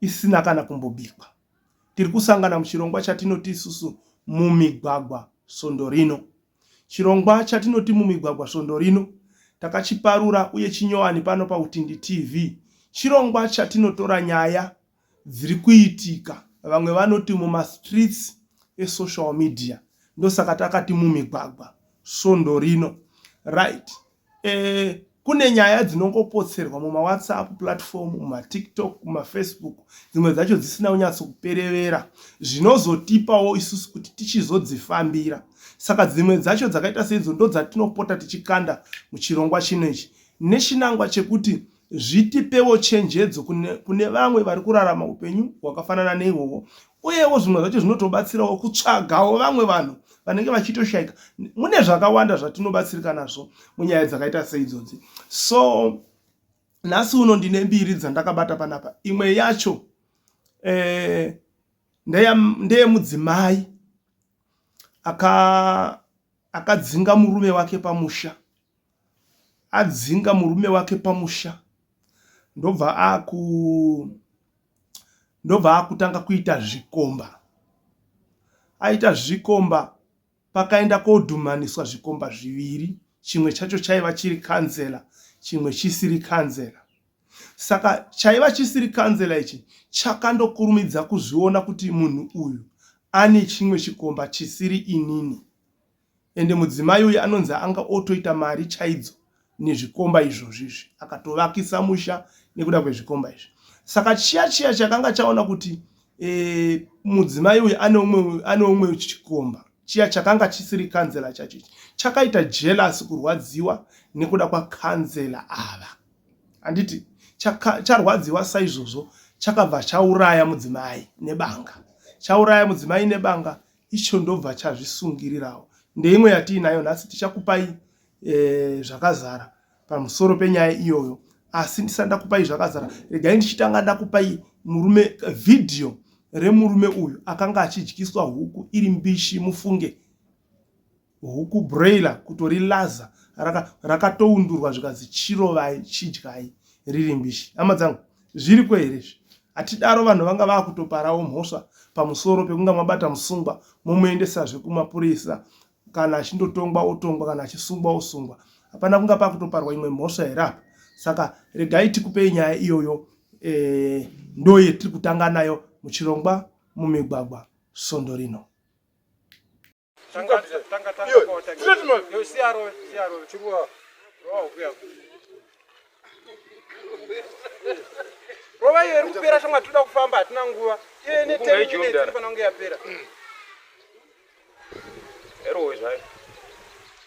isina kana kumbobikwa. Tiri kusangana muchirongwa chatinoti isusu mumigwagwa svondo rino. Chirongwa chatinoti mumigwagwa svondo rino takachiparura uye chinyowani pano paUtindi TV. Chirongwa chatinotora nyaya dziri kuitika vamwe vanoti mumastreets esocial media ndosaka takati mumigwagwa svondo rino right Eh, kune nyaya dzinongopotserwa mumawhatsapp platform mumatiktok mumafacebook dzimwe dzacho dzisina kunyatso kuperevera zvinozotipawo isusu kuti tichizodzifambira saka dzimwe dzacho dzakaita seidzo ndo dzatinopota tichikanda muchirongwa chino ichi nechinangwa chekuti zvitipewo chenjedzo kune, kune vamwe vari kurarama upenyu hwakafanana neihwohwo uyewo zvimwe zvacho zvinotobatsirawo kutsvagawo vamwe vanhu vanenge vachitoshayika mune zvakawanda zvatinobatsirika nazvo munyaya dzakaita seidzodzi so nhasi uno ndine mbiri dzandakabata panapa imwe yacho eh, ndeyemudzimai akadzinga murume wake pamusha adzinga murume wake pamusha ndobva aku ndobva akutanga kuita zvikomba aita zvikomba pakaenda kodhumaniswa zvikomba zviviri chimwe chacho chaiva chiri kanzela chimwe chisiri kanzela saka chaiva chisiri kanzela ichi chakandokurumidza kuzviona kuti munhu uyu ane chimwe chikomba chisiri inini ende mudzimai uyu anonzi anga otoita mari chaidzo nezvikomba izvozvi izvi akatovakisa musha nekuda kwezvikomba izvi saka chiya chiya chakanga chaona kuti e, mudzimai uyu ane umwe chikomba chiya chakanga chisiri kanzela chacho ichi chakaita jelasi kurwadziwa nekuda kwakanzela ava handiti charwadziwa saizvozvo chakabva chauraya mudzimai nebanga chauraya mudzimai nebanga icho ndobva chazvisungirirawo ndeimwe yatiinayo nhasi tichakupai e, zvakazara pamusoro penyaya iyoyo asi ndisati ndakupai zvakazara regai ndichitanga ndakupai murume vhidhiyo remurume uyu akanga achidyiswa huku iri mbishi mufunge huku broiler kutori laza rakatoundurwa raka zvikanzi chirovai chidyai riri mbishi hama dzangu zviriko here izvi hatidaro vanhu vanga vakutoparawo mhosva pamusoro pekunga mabata musungwa momuendesazve kumapurisa kana achindotongwa otongwa kana achisungwa osungwa hapana kunga pakutoparwa imwe mhosva here apa saka regai tikupei nyaya iyoyo e, ndo yetiri kutanga nayo muchirongwa mumigwagwa svondo rino rova iyo iri kupera shamwa tinoda kufamba hatina nguva iyo ine tefanange yapera erowe zvayo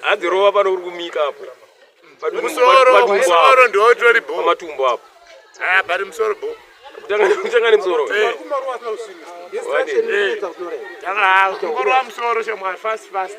hanzi rova pano uri kumika apo musoro ndootori bo matumbo apo ah, bari musoro bo kutanga nemusoro eh. tangakorwa musoro shamwari fast fast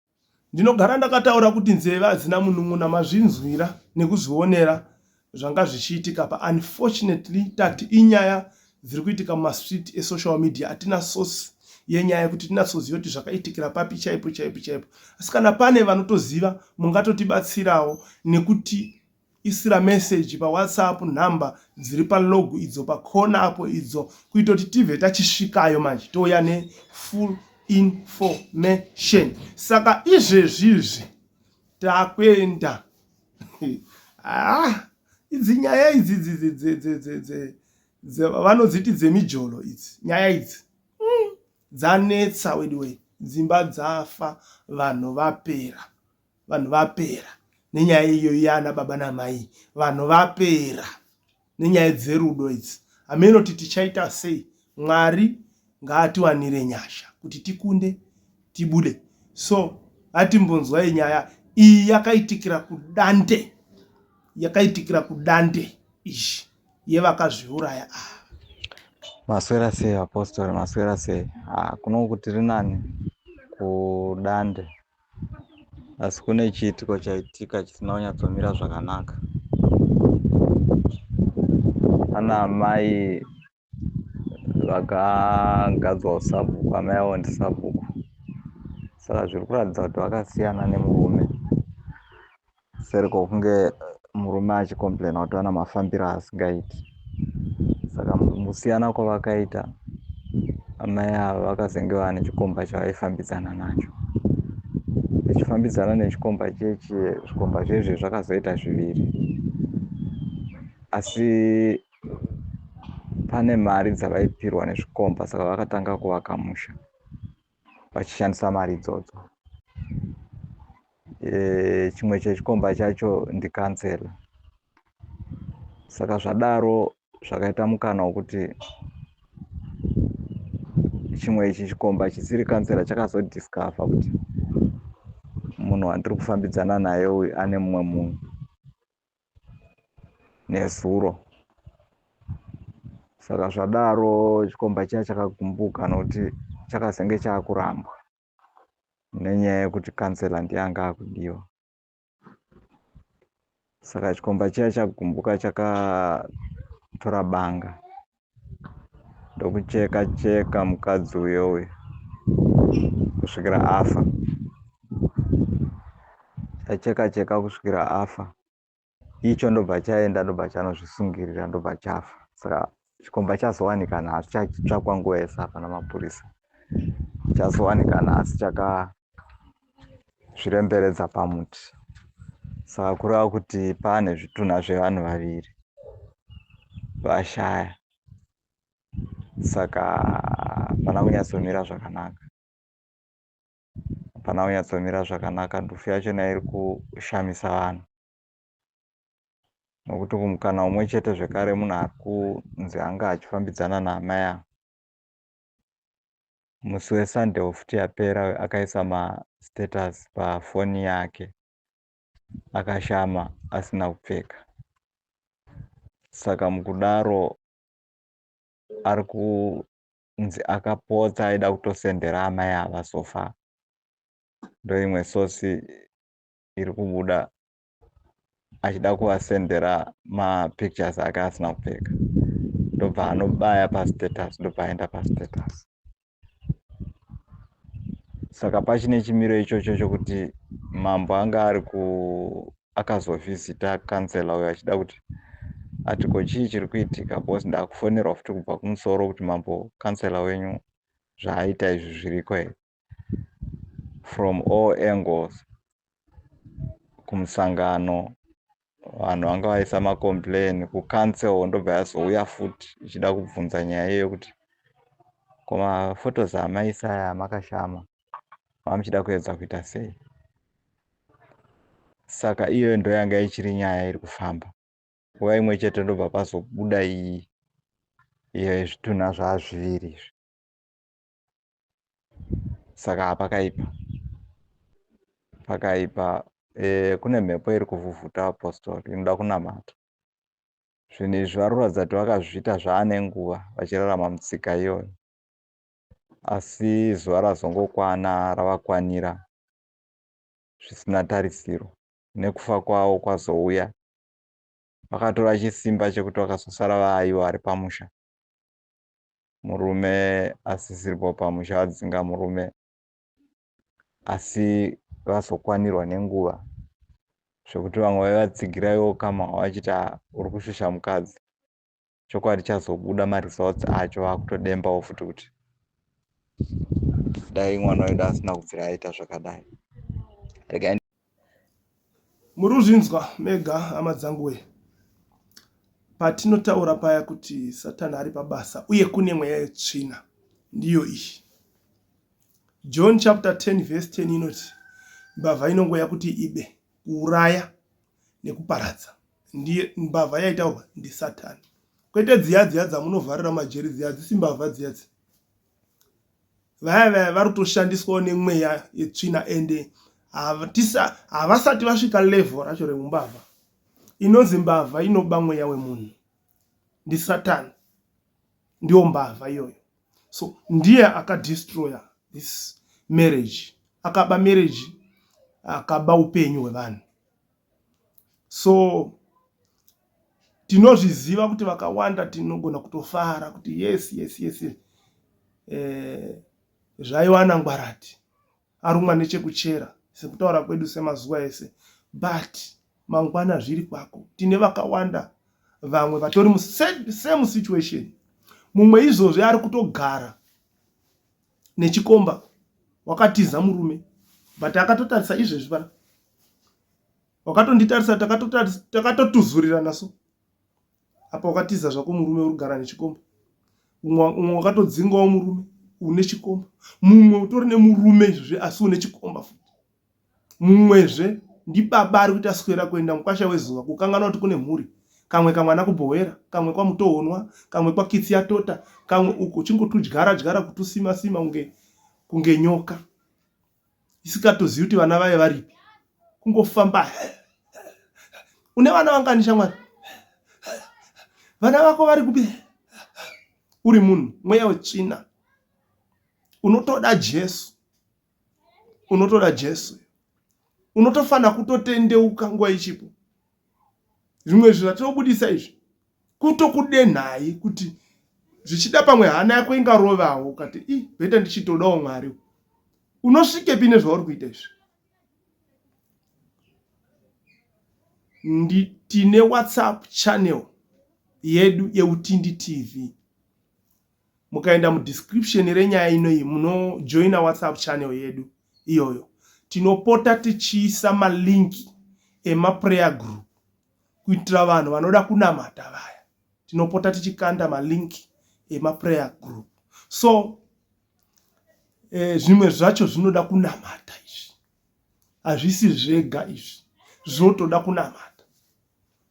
Ndinogara ndakataura kuti nzeve hadzina munun'una mazvinzwira nekuzvionera zvanga zvichiitika pa unfortunately tati inyaya dziri kuitika mumastreet esocial media atina source yenyaya kuti tinatsoziva kuti zvakaitikira papi chaipo chaipo chaipo asi kana pane vanotoziva mungatotibatsirawo nekuti Isira message pa whatsapp number dziri pa log idzo pa corner apo idzo kuita kuti tive tachisvikayo manje touya ne full information saka izvezvi izvi takuenda ah idzi nyaya idzi vanodziti dzemijolo idzi nyaya idzi hmm, dzanetsa weduwei dzimba dzafa vanhu vapera Vanhu vapera nenyaya iyoyi yana baba namai vanhu vapera nenyaya dzerudo idzi hameno kuti tichaita sei mwari ngaatiwanire nyasha kuti tikunde tibude so atimbonzwai nyaya iyi yakaitikira kudande yakaitikira kudande izvi yevakazviuraya ava maswera sei apostori maswera sei ah, kunoku tiri nani kudande asi kune chiitiko chaitika chisina kunyatsomira zvakanaka ana amai vakagadzwa usabhuku amai avo ndisabhuku saka zviri kuratidza kuti vakasiyana nemurume seri kwokunge murume achicomplaina kuti vana mafambiro asingaiti saka musiyana kwavakaita amai ava vakazenge vava nechikomba chavaifambidzana nacho vachifambidzana nechikomba chechi zvikomba zvezve zvakazoita zviviri asi pane mari dzavaipirwa nezvikomba saka vakatanga kuvaka musha vachishandisa mari idzodzo e, chimwe chechikomba chacho ndikansela saka zvadaro zvakaita mukana wokuti chimwe ichi chikomba chisiri kansela chakazodiscover kuti munhu wandiri kufambidzana naye uyu ane mumwe munhu nezuro saka zvadaro chikomba chiya chakagumbuka nokuti chakazenge chaakurambwa nenyaya yekuti kansela ndiye anga akudiwa saka chikomba chiya chagumbuka chakatora banga ndokucheka cheka mukadzi uyo uyo kusvikira afa chacheka cheka kusvikira afa icho ndobva chaenda ndobva chanozvisungirira ndobva chafa saka chikomba chazowanikana asi chachitsvakwa nguva yese hapana mapurisa chazowanikana asi chaka zviremberedza pamuti saka kureva kuti pane zvitunha zvevanhu vaviri vashaya saka hapana kunyatsomira zvakanaka hapana kunyatsomira zvakanaka ndufu yachona iri kushamisa vanhu nokuti kumukana umwe chete zvekare munhu ari kunzi anga achifambidzana naamai avo musi wesunday wofuti yapera uyo akaisa mastatus pafoni yake akashama asina kupfeka saka mukudaro ari kunzi akapotsa aida kutosendera amai ava sofa ndoimwe sosi iri kubuda achida kuvasendera mapictures ake asina kupfeka ndobva anobaya pastatus ndobva aenda pastatus saka pachine chimiro ichocho chokuti mambo anga ari ku akazovhizita kansela uyo achida kuti ati ko chii chiri kuitika bcause ndakufonerwa futi kubva kumusoro kuti mambo kansela wenyu zvaaita izvi zviriko here from all angles kumusangano vanhu vanga vaisa macomplain kucancel ndobva yazouya futi ichida kubvunza nyaya iyoyo kuti koma photos amaisa aya makashama mamuchida kuedza kuita sei saka iyoyo ndo yanga ichiri nyaya iri kufamba nguva imwe chete ndobva pazobuda iyi iyo yezvitunha zvaazviviri izvi saka pakaipa pakaipa eh, kune mhepo iri kuvhuvhuta apostori inoda kunamata zvinhu izvi vari kuratidza kuti vakazviita zvaane nguva vachirarama mutsika iyoyo asi zuva razongokwana ravakwanira zvisina tarisiro nekufa kwavo kwazouya vakatora chisimba chekuti vakazosara vaaivo ari pamusha murume asisiripo pamusha adzinga murume asi vazokwanirwa nenguva zvekuti vamwe vaivatsigira iwo kama wavachiti uri kushusha mukadzi chokwadi chazobuda maresults acho vakutodembawo futi kuti dai mwana wedu asina kubvira aita zvakadai Muri kuzvinzwa mega hama dzangu wee. Patinotaura paya kuti Satani ari pabasa uye kune mweya yetsvina ndiyo iyi. John chapter 10 verse 10 inoti mbavha inongouya kuti ibe, kuuraya nekuparadza. Ndiye mbavha yaitaurwa ndiSatani. Kwete dziya dziya dzamunovharira majeri dziya dzisi mbavha dziya dziya. vaya vaya vari kutoshandiswawo nemweya yetsvina ende havasati vasvika level racho reumbavha inonzi mbavha inoba mweya wemunhu ndisatani ndiyo mbavha iyoyo so ndiye akadestroya this marriage akaba marriage akaba upenyu hwevanhu so tinozviziva kuti vakawanda tinogona kutofara kuti yes yes yes eh, zvaiwana ngwarati arumwa nechekuchera sekutaura kwedu semazuva ese but mangwana zviri kwako tine vakawanda vamwe vatori musame situation mumwe izvozvi ari kutogara nechikomba wakatiza murume but akatotarisa izvezvi pana wakatonditarisa takatotuzurirana so apa wakatiza zvako murume uri kugara nechikomba umwe wakatodzingawo murume une chikomba mumwe utori nemurume izvezvi asi une chikomba futi Mumwezve ndibaba ari kuita swera kuenda mukwasha wezuva kukanganwa kuti kune mhuri. Kamwe kamwana kuBhohwera, kamwe kwaMutohonwa, kamwe kwaKitsi yaTota, kamwe uko uchingotudyara dyara kutusima sima kunge kunge nyoka isikatozivi kuti vana vaye varipi. Kungofamba une vana vangani shamwari? Vana vako vari kupi? Uri munhu mweya wetsvina unotoda Jesu unotoda jesu unotofanira kutotendeuka nguva ichipo zvimwe zvinhu zvatinobudisa izvi kutokudenhai kuti zvichida pamwe hana yako ingarovawo ukati i bheta ndichitodawo mwari unosvikepi nezvauri kuita izvi tine whatsapp channel yedu yeutindi tv mukaenda mudescription renyaya inoyi munojoina whatsapp channel yedu iyoyo tinopota tichiisa malink emaprayer group kuitira vanhu vanoda kunamata vaya tinopota tichikanda malink emaprayer group so eh, zvimwe zvacho zvinoda kunamata izvi hazvisi zvega izvi zvotoda kunamata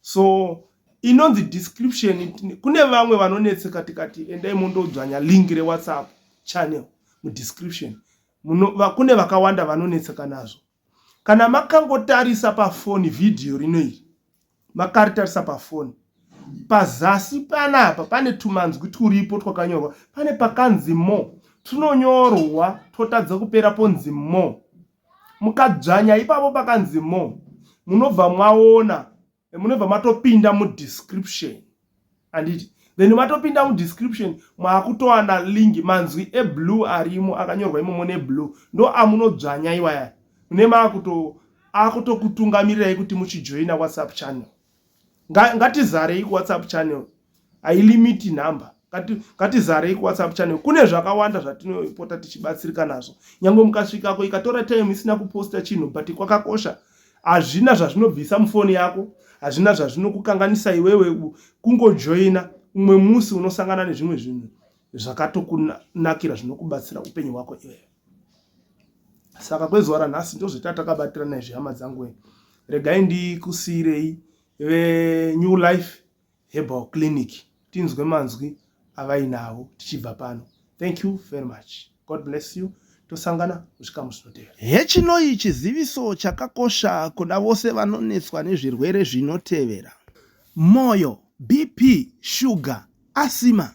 so inonzi description kune vamwe vanonetseka tikati endai mondodzvanya link rewhatsapp channel mudescription kune vakawanda vanonetseka nazvo kana makangotarisa pafoni vhidhiyo rino iri makaritarisa pafoni pazasi panapa pane tumanzwi turipo twakanyorwa pane pakanzi mo tunonyorwa twotadza kupera ponzi mo Mukadzvanya ipapo pakanzi more munobva mwaona munobva matopinda mudescription handiti then matopinda mudescription mwakutowana link manzwi eblue arimo akanyorwa imomo neblue ndo amunodzvanya iwaya mune maakuto akutokutungamirirai kuti muchijoina whatsapp channel ngatizarei kuwhatsapp channel hailimiti number ngatizarei kuwhatsapp channel kune zvakawanda zvatinopota tichibatsirika nazvo nyange mukasvikako ikatora time isina kuposta chinhu but kwakakosha hazvina zvazvinobvisa mufoni yako hazvina zvazvinokukanganisa iwewe kungojoina umwe musi unosangana nezvimwe zvinhu zvakatokunakira zvinokubatsira upenyu hwako iwewe saka kwezuva ranhasi ndozvita takabatirana izvi hama dzangu wee regai ndikusiirei venew life herbal clinic tinzwe manzwi avainavo tichibva pano thank you very much god bless you tosangana muchikamu zvinotevera hechinoyi chiziviso chakakosha kuna vose vanonetswa nezvirwere zvinotevera mwoyo bp shuga asima